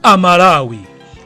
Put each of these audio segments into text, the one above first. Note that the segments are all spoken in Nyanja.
amalawi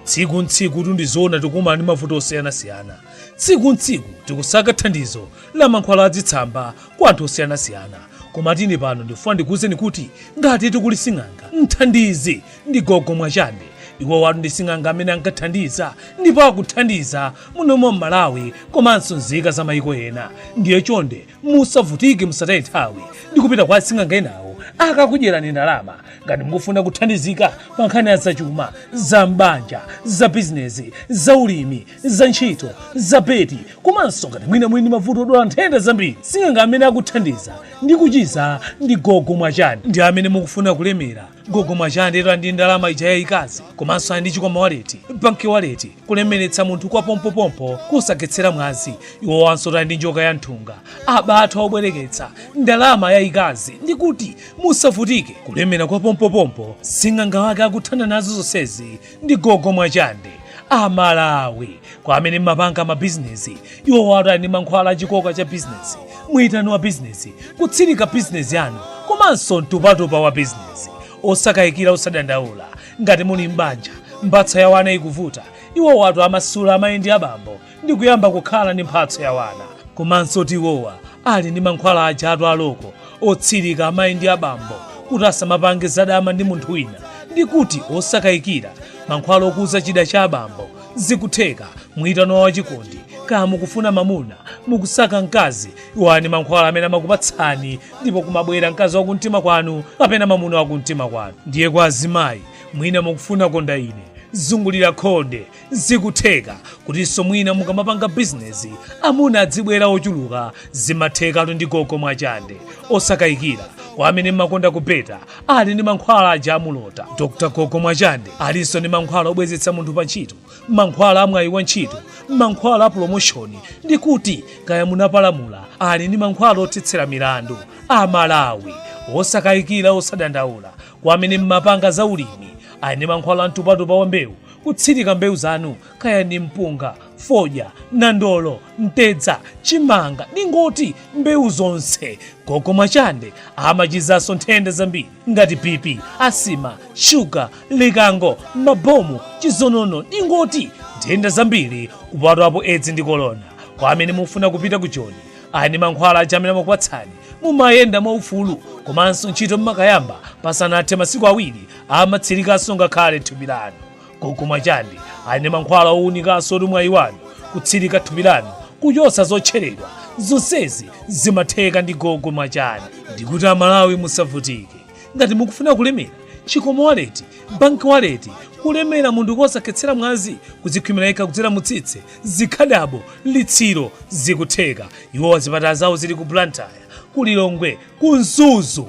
tsiku ntsiku tu ndi zoona tikumana ndi mavuto osiyanasiyana tsiku ntsiku tikusaka thandizo la mankhwala adzitsamba kwa anthu osiyanasiyana koma tu ine pano ndifuna ndikuwuzeni kuti ngatitu kuli sing'anga mthandizi ndi gogo mwachande iwowatu ndi sing'anga amene ankathandiza ndipo akuthandiza muno mwa m'malawi komanso nzika za mayiko ena ndiye chonde musavutike musataye nthawi ndi kupita kwa asing'anga enawo akakudyerani ndalama ngati mukufuna kuthandizika pa nkhani ya zachuma za m'banja za bizinesi za ulimi za ntchito za beti komanso ngati mwina muli ndi mavuto odwala nthenda zambiri sing'anga amene akuthandiza ndi kuchiza ndi gogo mwachande amene mukufuna kulemera gogo mwachande ali ndi ndalama ija yayikazi komanso ali ndi chikwama waleti banki waleti kulemeretsa munthu kwa pompopompo kosakhetsera mwazi iwowanso ali ndi njoka ya nthunga abathwa obwereketsa ndalama yayikazi ndi kuti musavutike kulemera kwa pompopompo sing'anga wake akuthana nazo zonsezi ndi gogo mwachande amalawi kwa amene mmapanga mabizinesi iwowatu ali ndi mankhwala achikoka cha bizinesi mwitano wa bizinesi kutsirika bizinesi yanu komanso mtupatupa wa bizinesi osakayikira osadandaula ngati muli m'banja mphatso ya wana ikuvuta iwowatu amasula amayi ndi abambo ndi kuyamba kukhala ndi mphatso ya wana komansotu iwowa ali ndi mankhwala ajatu aloko otsirika amayi ndi abambo kuti asamapange zadama ndi munthu wina ndi kuti osakayikira mankhwala okuza chida cha abambo zikutheka mwitano wa chikondi kaya mukufuna mamuna mukusaka mkazi iwo ali ndi mankhwala amene amakupatsani ndipo kumabwera mkazi wa kumtima kwanu kapena mamuna wa kumtima kwanu ndiye kwa azimayi mwina mukufuna konda ine zungulira khonde Zikutheka kutinso mwina mukamapanga bizinesi amuna adzibwera ochuluka zimathekatu ndi gogo mwachande osakayikira kwa amene mmakonda kubeta ali ndi mankhwala aja amulota dr gogo mwachande alinso ndi mankhwala obwezetsa munthu pa ntchito mankhwala amwayi wa ntchito mankhwala a promoshoni ndi kuti kaya munapalamula ali ndi mankhwala othetsera milandu amalawi osakayikira osadandaula kwa amene mmapanga za ulimi ali ndi mankhwala amtupatupa wa mbewu Kutsirika mbewu zanu kaya ni mpunga, fodya, nandolo, mtedza, chimanga ningoti mbewu zonse. Gogo Mwachande amachizanso nthenda zambiri ngati BP, asima, shuga, likango, mabomu, chizonono ningoti nthenda zambiri kupatulapo edzi ndi kolona. Kwa amene mufuna kupita ku Joni ali ni mankhwala aja amene amakupatsani mumayenda mwaufulu komanso ntchito mmakayamba pasanathe masiku awiri amatsilikanso ngakhale thupi lanu. Gogo Mwachande ali ndi mankhwala owunikanso oti mwayi wanu kutsilika thupi lanu kuchotsa zotcheledwa. Zonsezi zimatheka ndi gogo Mwachande. Ndikuti a Malawi musavutike. Ngati mukufuna kulemera, chikwama wallet, bank wallet, kulemera munthu kosakhetsera mwazi, kudzikhwimira yekha kudzera mu tsitsi, zikhadabo, litsiro, zikutheka. Iwowa zipatala zawo zili ku Blantyre, ku Lilongwe, ku Mzuzu.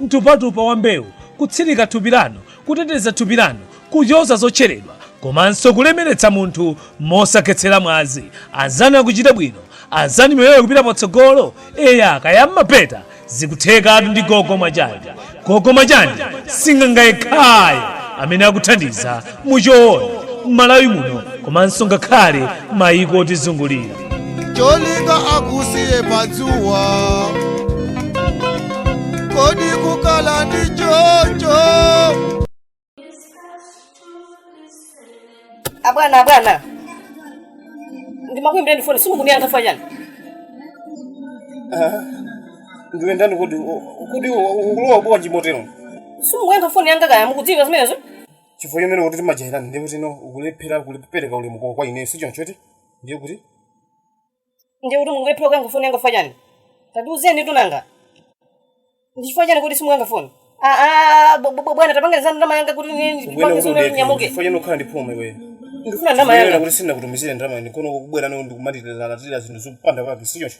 mtupatupa wa mbewu, kutsirika thupi lanu, kuteteza thupi lanu kuchotsa zotcheredwa komanso kulemeretsa munthu mosakhetsera mwazi. Anzanu akuchita bwino, anzanu miyoyo ikupita patsogolo. Eya, kaya mmapeta zikuthekatu ndi gogo Mwachande. Gogo Mwachande sing'anga yekhayo amene akuthandiza muchoona mmalawi muno komanso ngakhale maiko otizungulira cholinga akusiye padzuwa kodi kukhala ndi choncho abwana abwana ndimakuimbireni foni simukundiyankha ifukwa chani ndiwe ndani kodi kuti ukulowa bwanji chimotero simukuyankha foni yanga kaya mukudziwa zimenezo chifukwa chimene kuti timajairana ndiye kuti pano ukulephera kupereka ulemu kwa- kwa ineyo sichoncho eti ndiye kuti ndiye kuti mukulephera kuyankha foni yanga ifukwa chani tandiuzeni tu nanga ndi chifukwa chani kuti simuyankha foni Ah, ah, bw- bw- bwana tapangani za ndalama yanga kuti ukuyenera kuti udekhe ndinyamuke chifukwa chani ukhala ndi phuma iweyo ndikufuna Ndiyenera ndalama yanga kuti sindinakutumizire ndalama ine kuno kubwera nayo ndikumatilalatira zinthu zopanda pake sichoncho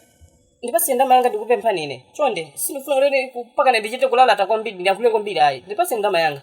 ndipatseni ndalama yanga ndikupemphani ine chonde sindifuna kuti mpakana ndichite kulalata kwambiri ndiyankhule kwambiri ayi ndipatseni ndalama yanga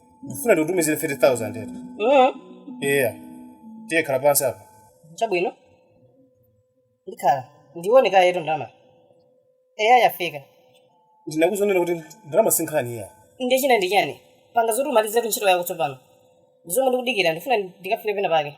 ndikufuna ndikutumizire 50000 eti mm. eya tiye khala pansi apa chabwino ndikhala ndione kaye yetu ndalama eya yafika ndinakuuza kunena kuti ndalama sinkhani iyayi ndiye china ndi chani panga zoti umalizetu ntchito yako tsopano ndizomwe ndikudikira ndifuna ndikafike pena pake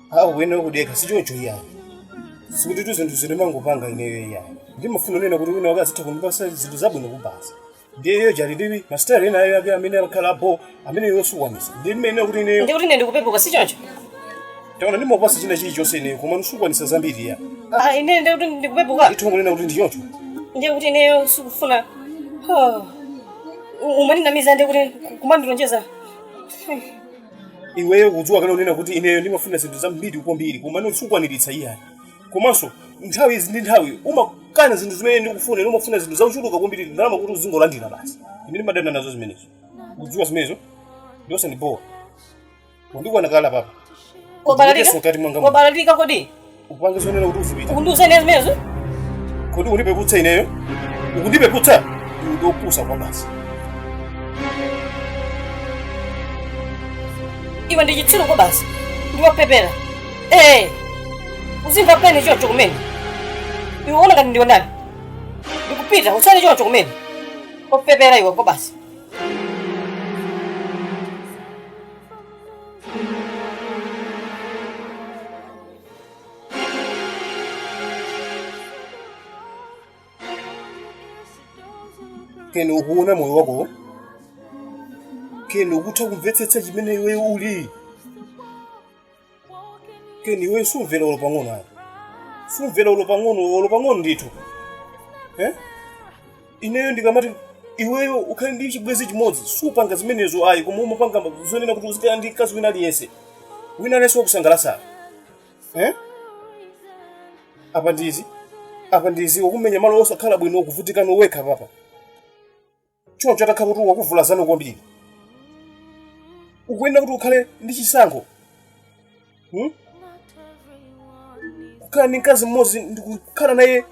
A uyenera kudekha sichoncho iyayi. Sikuti tu zinthu zi ndimangopanga ineyo iyayi. Ndimafuna nena kuti wina wake azitha kundipatsa zinthu zabwino kuposa. Ndiye iyo jali ndiwi mastari ena ayo ake amene akhala apo amene iwe sukwanitsa. Ndi mmene kuti ineyo Ndi kuti ine ndikupepuka si choncho? taona ndimakupatsa china chilichonse ineyo koma no sukwanitsa zambiri iya. Ah, ine ndi kuti ndikupepuka. Ndithu kunena kuti ndi choncho. Ndiye kuti ineyo sikufuna. Oh. Umandinamiza ndiye kuti kumandilonjeza. Hmm. iweyo kudziwa kani kunena kuti ineyo ndimafuna zinthu zambiri kwambiri komano sukwaniritsa iyayi komanso nthawi izi ndi nthawi umakana zinthu zimene ndikufuna ine umafuna zinthu zochuluka kwambiri ndalama kuti uzingolandira basi ine ndimadana nazo zimenezo kudziwa zimenezo ndiye usandibowe wandikwana kale apapa Wabalalika? Ndikuyeso mkati mwanga muno. Wabalalika kodi? Upange zonena kuti uzipita. Ukundiuza ine zimenezo? Kodi ukundipeputsa ineyo? Ukundipeputsa? Iwe ndiwopusa kwabasi. Iwe ndi chitsiru kwabasi. Ndiwopepera. Eh. Uzimva pain chocho kumene. Iwe ukuona ngati ndiwe ndani? Ndikupita usale chocho kumene. Wopepera iwe kwabasi. Keni ukuona moyo wako Keni ukutha kumvetsetsa chimene iwe uli Keni iwe sumvera olo pang'ono ayi sumvera olo pang'ono olo pang'ono ndithu eh? ineyo ndikamati iweyo ukhale ndi chibwenzi chimodzi supanga zimenezo ayi koma umapanga zonena kuti uzikhala ndi mkazi wina aliyense wina aliyense wakusangalatsa eh? apa ndizi apa ndizi wakumenya malo osakhala bwino ukuvutika nowekha apapa choncho atakhala kuti wakuvulazano kwambiri ukuyenera kuti ukhale ndi chisankho Hmm? kukhala ndi mkazi mmodzi ndikukhala naye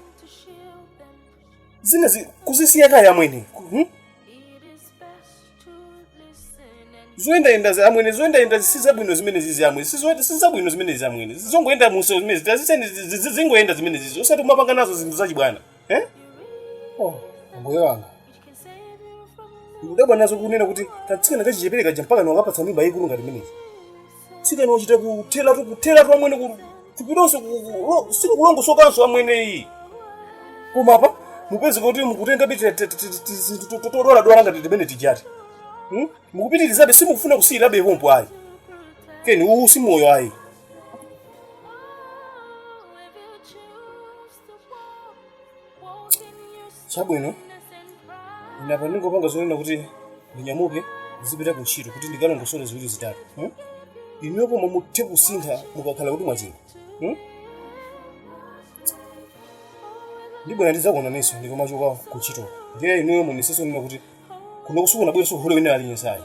zinazi kuzisiya kaya amwene hmm? zoyendayenda za- amwene zoyendayenda si zabwino zimenezizi amwene si zo- si zabwino zimenezizi amwene zongoyenda muso zimene ziti aziseni zi- zi- zi- zongoyenda zimenezizi osati kumapanga nazo zinthu zachibwana eh? oh, ambuye wanga ndikudabwa nazo kunena kuti katsikana kachichepere kaja mpaka mwakapatsa mimba yayikulu ngati imeneyi mtsikana wachita kutheratu kutheratu amwene ku- thupilonso ku- ku- lo- silikulongosokanso amwene ayi koma apa mupeze kuti mukutengabe todwaladwala ngati timeneti tijati Hmm? mukupitirizabe simukufuna kusiyirabe pompo ayi Keni uwu si moyo ayi chabwino ine apa ndingopanga zonena kuti ndinyamuke ndizipita ku ntchito kuti ndikalongosole ziwiri zitatu hmm? inuyo pomwe muthe kusintha mukakhala kuti mwachira hmm? ndibwera ndidzakuonaninso ndikamachoka ku ntchito ndiye inuyo muonetsetse zonena kuti kuno kusakhale kubweranso hule wina aliyense ayi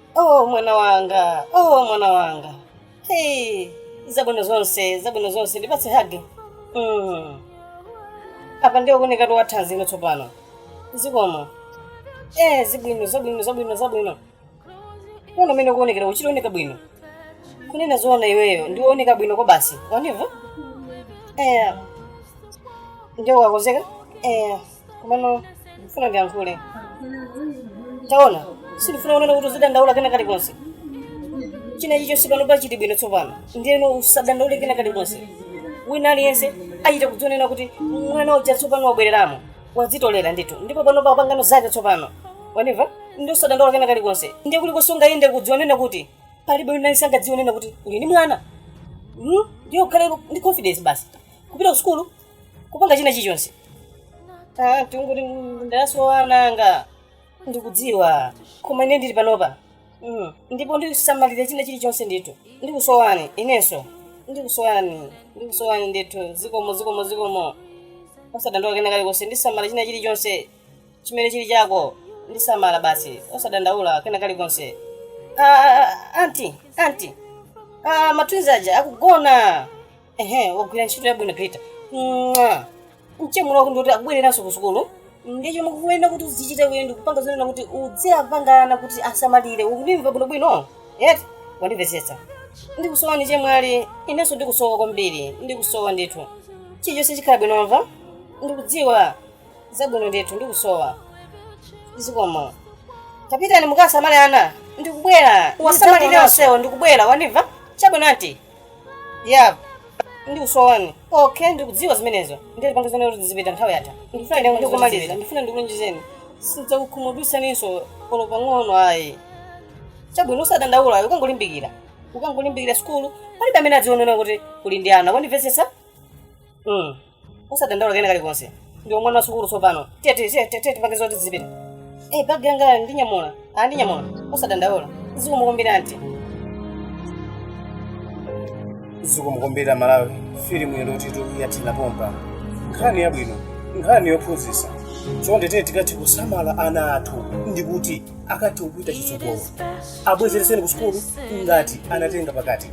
oh mwana wanga oh mwana wanga hey zabwino zonse zabwino zonse ndipatse hagi mm. apa ndiye kuonekatu wathanzi ino tsopano zikomo eh zibwino zabwino zabwino zabwino kuona mmene ukuonekera ukuchita kuoneka bwino kunena zoona iweyo ndiwooneka bwino kwabasi wandimva eh ndiye wakonzeka eh komano ndifuna ndiyankhule taona sindifuna kunena kuti uzidandaula kena kalikonse china chichonse pano pachiti bwino tsopano ndiyeno usadandaule kena kalikonse wina aliyense achita kudzionera kuti mwana uja tsopano wabwereramo wazitolera ndithu ndipo panopa wapangano zake tsopano wandimva ndiye usadandaule kena kalikonse ndiye kuti kusunga yende kudzionena kuti palibe wina aliyense angadziwe kunena kuti uli ndi mwana Hmm? ndiye ukhale ndi confidence basi kupita ku sukulu kupanga china chilichonse Ah, kungoti ndasowa ana anga ndikudziwa koma ine ndili panopa Mm. ndipo ndisamalira china chilichonse ndithu ndikusowani inenso ndikusowani ndikusowani ndithu zikomo zikomo zikomo osadandaula kena kalikonse ndisamala china chilichonse chimene chili chako ndisamala basi osadandaula kena kalikonse Ah, ah, ah, anti anti ah, matwins aja akugona ehe wagwira ntchito yabwino peter Mwah. mchemwali wako ndikuti akubwereranso ku sukulu ndiye chomwe ukuyenera kuti uzichita kuye ndikupanga zonena kuti udziwapanga ana kuti asamalire ukundimva bwinobwino eti wandimvetsetsa ndikusowani chemwali inenso ndikusowa kwambiri ndikusowa ndithu chilichonse chikhala bwino wamva ndikudziwa zabwino ndithu ndikusowa zikomo tapitani mukasamale ana ndikubwera wasamalire onsewo ndikubwera wandimva chabwino anti ya ndikusowani okay ndikudziwa zimenezo ndiye panga zonena kuti uzipita nthawi yatha ndifuna ndikumaliza ndifuna ndikulonjezeni sindidzakukhumudwitsaninso olo pang'ono ayi chabwino usadandaula ukangolimbikira ukangolimbikira sukulu palibe amene adziwe kunena kuti uli ndi ana wandimvetsetsa Mm. usadandaula kena kalikonse ndiwe mwana wa sukulu tsopano tiye tiye tiye tiye tipange zoti tizipita eh bagi yanga ndinyamula ah ndinyamula usadandaula zikomo kwambiri anti zikomo kwambiri amalawi filimu yathutu yathera pompa nkhani yabwino nkhani yophunzitsa chonde tiyeni tikathe kusamala ana athu ndikuti akathe kupita chitsogolo abwezeretseni ku sukulu ngati anatenga pakati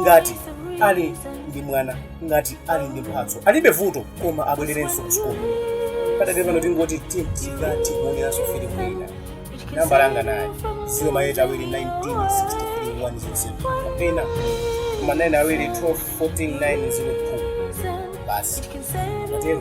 ngati ali ndi mwana ngati ali ndi mphatso alibe vuto koma abwererenso kusukulu padakali pano tingoti tintika tikuoneranso filimu ina nambala yanga nayi ziro maeyiti awiri 1963107 kapena ziro ma 9 awiri 1244902 basi matero